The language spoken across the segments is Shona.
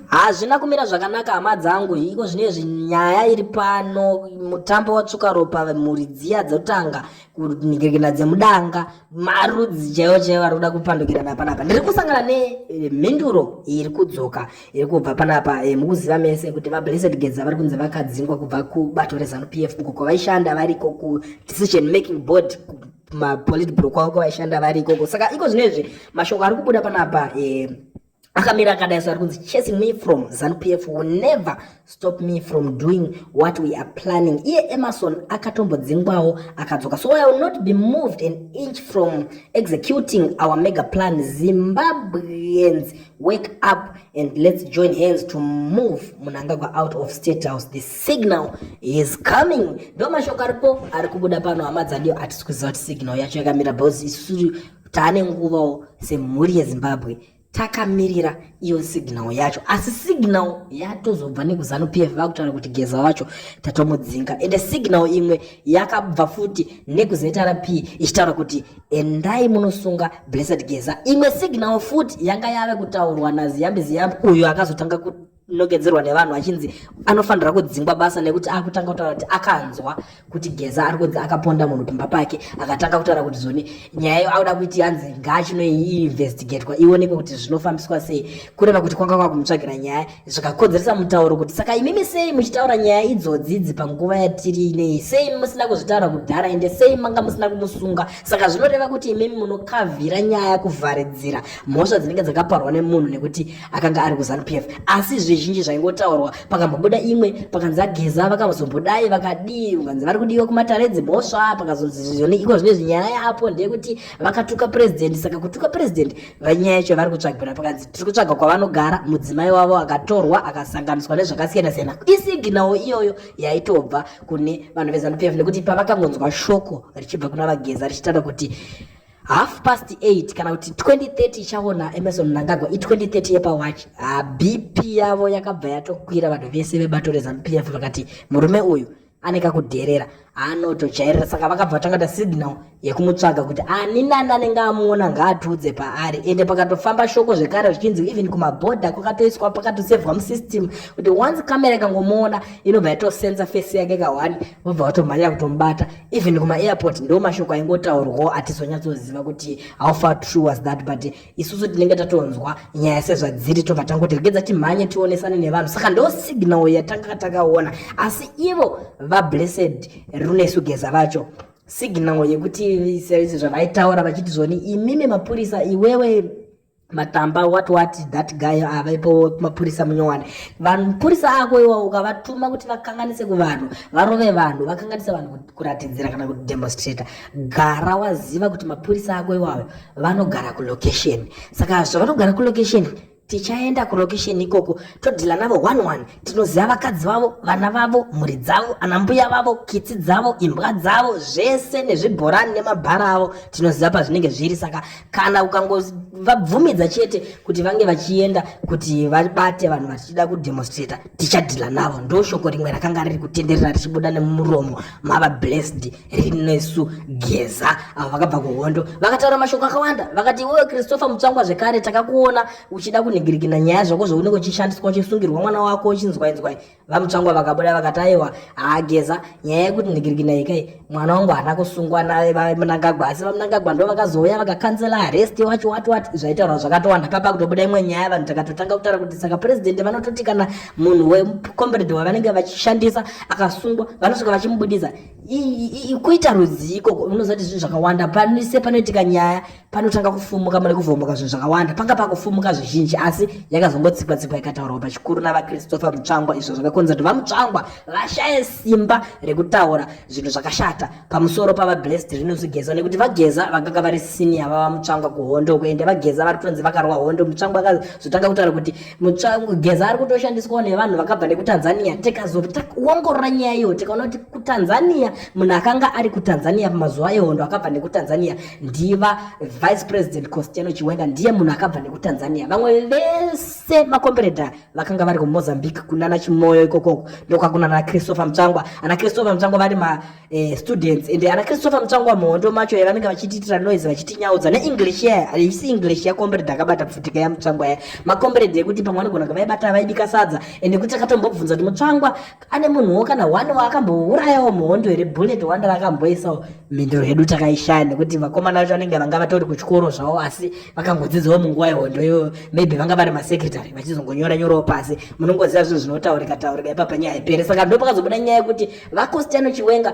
Hazvina kumira zvakanaka hama dzangu iko zvinezvi nyaya iri pano mutambo watsvuka ropa mhuri dziya dzotanga kunhikirikina dzemudanga marudzi chaiwo chaiwo ari kuda kupandukirana panapa ndiri kusangana nemhinduro eh, iri kudzoka iri kubva panapa eh, mukuziva mese kuti vablessed gedza vari kunzi vakadzingwa kubva kubato rezanup f uko kwavaishanda variko kudecision making board mapolitbro kwavo kwavaishanda varikoko saka iko zvinezvi mashoko ari kubuda panapa eh, akamira akadai so ari kunzi chasing me from zanu p f will never stop me from doing what we are planning iye emerson akatombodzingwawo akadzoka so i will not be moved an inch from executing our mega plan zimbabweans wake up and let's join hands to move munangagwa out of state house the signal is coming ndo mashoko aripo ari kubuda pano hama dzadio atisi kuziva kuti signal yacho yakamira bcause isusu Tane nguvawo semhuri yeZimbabwe takamirira iyo signal yacho asi signal yatozobva nekuzanu pf vakutaura kuti geza wacho tatomudzinga ende signal imwe yakabva futi nekuzrp ichitaura kuti endai munosunga blessed geza imwe signal futi yanga yave kutaurwa naziyambi ziyambi uyo akazotanga ku nogedzerwa nevanhu achinzi anofanira kudzingwa basa nekuti akutanga kutaura kuti akanzwa kuti geza ari kunzi akaponda munhu pamba pake akatanga kutaura kuti zoni nyaya iyo auda kuiti yanzi ngaachinoiinvestigatwa ionekwe kuti zvinofambiswa sei kureva kuti kwanga kwakumutsvagira nyaya zvikakodzeresa mutauro kuti saka imimi sei muchitaura nyaya idzodzidzi panguva yatiri inei sei musina kuzvitaura kudhara ende sei manga musina kumusunga saka zvinoreva kuti imimi munokavhira nyaya kuvharidzira mhosva dzinenge dzakaparwa nemunhu nekuti akanga ari kuzanu pf asi zvizhinji zvaingotaurwa pakambobuda imwe pakanzi ageza vakazobudai vakadii ukanzi vari kudiwa kumatare dzimhosva pakazonzizvizvoni iko zvine zvinyaya yapo ndeyekuti vakatuka purezidendi saka kutuka purezidendi vanyaya yacho vari kutsvagirwa pakanzi tiri kutsvaga kwavanogara mudzimai wavo akatorwa akasanganiswa nezvakasiyana siyana isiginawo iyoyo yaitobva kune vanhu vezanu pf nekuti pavakangonzwa shoko richibva kuna vageza richitaura kuti half past 8 kana kuti 2030 ichaona emerson mnangagwa i2030 yepawachi ah, bp yavo yakabva yatokwira vanhu vese vebato rezanup f vakati murume uyu ane kakudherera anotojairira saka vakabva tangata signal yekumutsvaga kuti ani nani anenge amuona ngaatiudze paari ende pakatofamba shoko zvekare zvichinzi even kumabhodha kwakatoiswa pakatosevhwa musystem kuti once kamera ikangomuona inobva yatosenza fesi yake kahwani vobva vatomhanya kutomubata even kuma airport ndo mashoko aingotaurwawo atizonyatsoziva kuti how far true was that but isusu tinenge tatonzwa nyaya sezvadziri tobva tangoti regedza timhanye tionesane nevanhu saka ndo signal yatanga takaona asi ivo vablessed runesu geza vacho signal yekuti sezvavaitaura vachiti zvoni imimi mapurisa iwewe matamba what what that guy avaipo mapurisa munyowane vanhu mupurisa ako iwawo ukavatuma kuti vakanganise kuvanhu varove vanhu vakanganise vanhu kuratidzira kana kuti demonstrator gara waziva kuti mapurisa ako iwawo vanogara kulocation saka zvavanogara kulocation tichaenda kulocation ikoko todhila navo one one tinoziva vakadzi vavo vana vavo mhuri dzavo anambuya vavo kitsi dzavo imbwa dzavo zvese nezvibhorani nemabhara avo tinoziva pazvinenge zviri saka kana ukangovabvumidza chete kuti vange vachienda kuti vabate vanhu vachida kudemonstrata tichadhila navo ndo shoko rimwe rakanga riri kutenderera richibuda nemuromo mava blessed rinesu geza avo vakabva kuhondo vakataura mashoko akawanda vakati iwewe christopher mutsvangwa zvekare takakuona uchida kunhigirikina nyaya zvako zvounenge uchishandiswa uchisungirwa mwana wako uchinzwainzwai vamutsvangwa vakabuda vakati aiwa haa geza nyaya yekuti nhigirikina ikai mwana wangu haana kusungwa namunangagwa asi vamunangagwa ndo vakazouya vakakanzela arest wacho wati wati zvaitaurwa zvakatowanda papa kutobuda imwe nyaya vanhu takatotanga kutaura kuti saka president vanototi kana munhu wecomrade wavanenge vachishandisa akasungwa vanosvika vachimubudisa kuita rudziko unozoti zvinhu zvakawanda panise panoitika nyaya panotanga kufumuka mune kuvhomoka zvinhu zvakawanda panga pakufumuka zvizhinji asi yakazongotsikwa tsikwa ikataurwa pachikuru navachristopher mutsvangwa izvo zvakakonza kuti vamutsvangwa vashaye simba rekutaura zvinhu zvakashata pamusoro pavablessed rinos geza nekuti vageza vakanga vari sinia vavamutsvangwa kuhondo kuende vageza vari kutonzi vakarowa hondo mutsvangwa akazotanga kutaura kuti mutsvangu geza ari kutoshandiswawo nevanhu vakabva nekutanzania tikazoongorora nyaya iyo tikaona kuti kutanzania munhu akanga ari kutanzania pamazuva ehondo akabva nekutanzania ndiva vice president costiano chiwenga ndiye munhu akabva nekutanzania vamwe vese makombereda vakanga vari kumozambique kunana chimoyo ikokoko ndokwakunana christopher mutsvangwa ana christopher mutsvangwa vari eh, students ende ana christopher mutsvangwa muhondo macho ya vanenge vachitiitira noise vachitinyaudza neenglish yaya haisi english yakombered akabata pfutika yamutsvangwa ya makombered ekuti pamwe anogona kunge vaibata vaibika sadza ende kuti akatombobvunza kuti mutsvangwa ane munhuwo kana one waakambourayawo muhondo here bullet wanda rakamboisawo mhinduro yedu takaishaya nekuti vakomana vacho vanenge vanga vatori kuchikoro zvavo asi vakangodzidzawo munguva yehondo iyoyo maybe vanga vari masecretary vachizongonyora nyorawo pasi munongoziva zvinhu zvinotaurika taurika ipapa nyaya ipere saka ndopakazobuda nyaya yekuti vakostiano chiwenga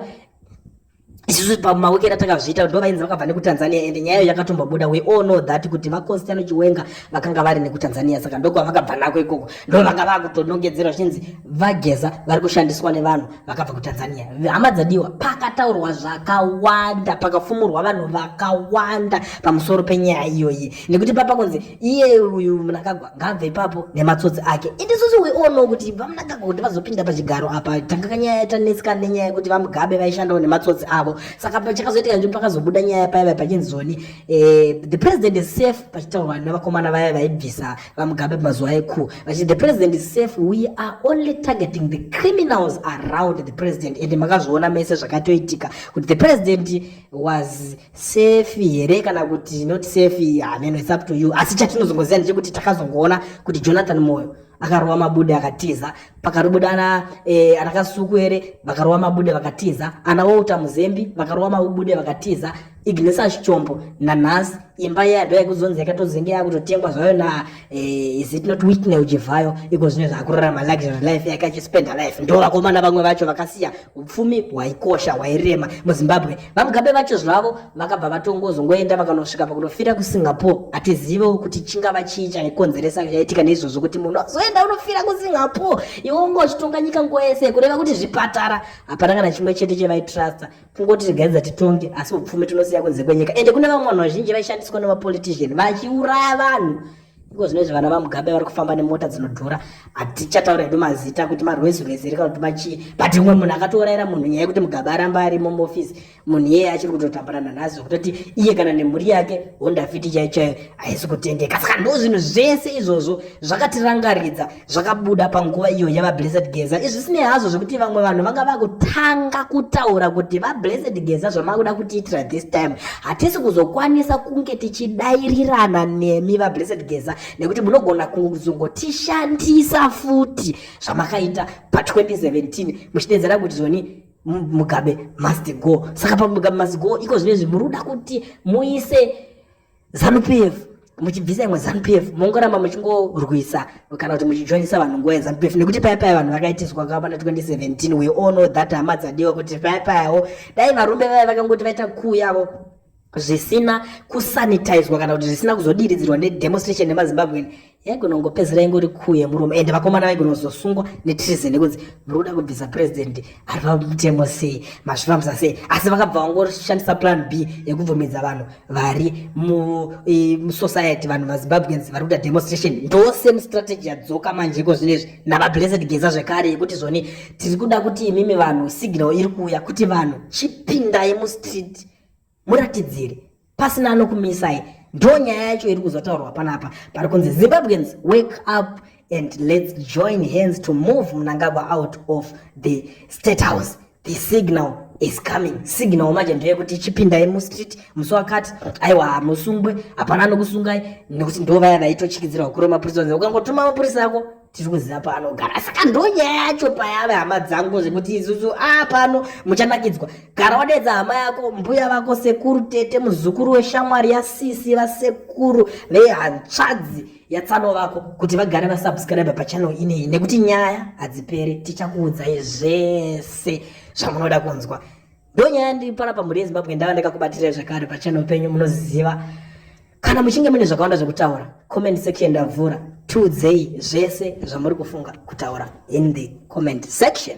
isusu pamawekera takazviita ndo vainzi vakabva nekutanzania and nyaya yakatombobuda we all know that kuti vakonstano chiwenga vakanga vari nekutanzania saka ndokwa vakabva nako ikoko ndo vanga vakutonongedzerwa zvichinzi vageza vari kushandiswa nevanhu vakabva kutanzania hama dzadiwa pakataurwa zvakawanda pakafumurwa vanhu vakawanda pamusoro penyaya iyoyi nekuti papa kunzi iye uyu mnangagwa ngaabve ipapo nematsotsi ake indisusu we all know kuti vamnangagwa kuti vazopinda pachigaro apa tanga kanyaya yatanetsika nenyaya yekuti vamugabe vaishandawo nematsotsi avo saka pachakazoitika nzvimbo pakazobuda nyaya paya vai pachinzi zoni eh, the president is safe pachitaurwa nevakomana vaya vaibvisa vamugabe pamazuva eku vachiti the president is safe we are only targeting the criminals around the president and makazviona mese zvakatoitika kuti the president was safe here kana kuti not safe hameno it's up to you asi chatinozongoziva ndechekuti takazongoona kuti jonathan moyo akarova mabude akatiza pakarobuda ana e, ana kasuku here vakarova mabude vakatiza ana wouta muzembi vakarova mabude vakatiza ignesa chichombo nanhasi imba yado yaikuzonzi yakatozenge yakutotengwa zvayo na e, is it not witnel jivhayo iko zvino zvakurarama luxury life yakachispenderlife ndo vakomana vamwe vacho vakasiya upfumi hwaikosha hwairema muzimbabwe vamugabe vacho zvavo vakabva vatongozongoenda vakanosvika pakunofira kusingapore hatizivewo kuti chingava chii chaikonzeresa chaitika neizvozvo kuti munhu azoenda unofira kusingapore iwe unge uchitonga nyika nguva yese kureva kuti zvipatara hapana kana chimwe chete chevaitrusta kungoti tigaidza titonge asi upfumi tinosiya kunze kwenyika ende kune vamwe vanhu vazhinji vaishandiswa nemapolitician vachiuraya vanhu Iko zvinezvi vana vaMugabe vari kufamba nemota dzinodhura hatichataura hedu mazita kuti marwezi rwezi rika kuti machii but umwe munhu akatouraira munhu nyaya yekuti Mugabe aramba arimo muofisi munhu iyeye achiri kutotambura nanhasi zvekutoti iye kana nemhuri yake honda fiti chaiyo chaiyo haisi kutendeka saka ndo zvinhu zvese izvozvo zvakatirangaridza zvakabuda panguva iyo yavablessed geza izvi sinei hazvo zvekuti vamwe vanhu vanga vakutanga kutaura kuti vablessed geza zvamakuda kutiitira this time hatisi kuzokwanisa kunge tichidairirana nemi vablessed geza nekuti munogona kuzongotishandisa futi zvamakaita pa2017 muchidedzera kuti zvoni mugabe must go saka pamugabe must go iko zvino izvi muri kuda kuti muise Zanu PF muchibvisa imwe Zanu PF mongoramba muchingorwisa kana kuti muchijoinisa vanhu nguva yeZanu PF nekuti paya paya vanhu vakaitiswa kava pana 2017 we all know that hama dzadiwa kuti paya payawo dai varume vaya vakangoti vaita kuu yavo zvisina kusanitizwa kana kuti zvisina kuzodiridzirwa nedemonstration nemazimbabwean yaigonongopedzera ingori kuu yemurume ende vakomana vaigonozosungwa netreason yekunzi muri kuda kubvisa president ari pamutemo sei mazvifambisa sei asi vakabva vangoshandisa plan b yekubvumidza vanhu vari musociety vanhu vazimbabweans vari kuita demonstration ndo same strategy yadzoka manje iko zvino izvi navablessed geza zvekare yekuti zvoni tiri kuda kuti imimi vanhu signal iri kuuya kuti vanhu chipindai mustreet muratidziri pasina anokumisai ndo nyaya yacho iri kuzotaurwa panapa pari kunzi zimbabweans wake up and let's join hands to move mnangagwa out of the state house the signal is coming signal manje ndeyekuti chipindai mustreet musi wakati aiwa hamusungwe hapana anokusungai nekuti ndo vaya vaitochikidzira hukuru wemapurisa unzi ukangotuma mapurisa ako tiri kuziva paanogara saka ndonyaya yacho payave hama dzangu zvekuti isusu a ah, pano muchanakidzwa gara wadedza hama yako mbuya vako sekuru tete muzukuru weshamwari yasisi vasekuru vehantsvadzi yatsano vako kuti vagare vasubscribe pachanel ineyi nekuti nyaya hadziperi tichakuudzai zvese zvamunoda kunzwa ndonyaya ndiri panapa mhuri yezimbabwe ndava ndakakubatirai zvakare pachanel penyu munoziva kana muchinge mune zvakawanda zvekutaura comment section ndavhura tiudzei zvese zvamuri kufunga kutaura in the comment section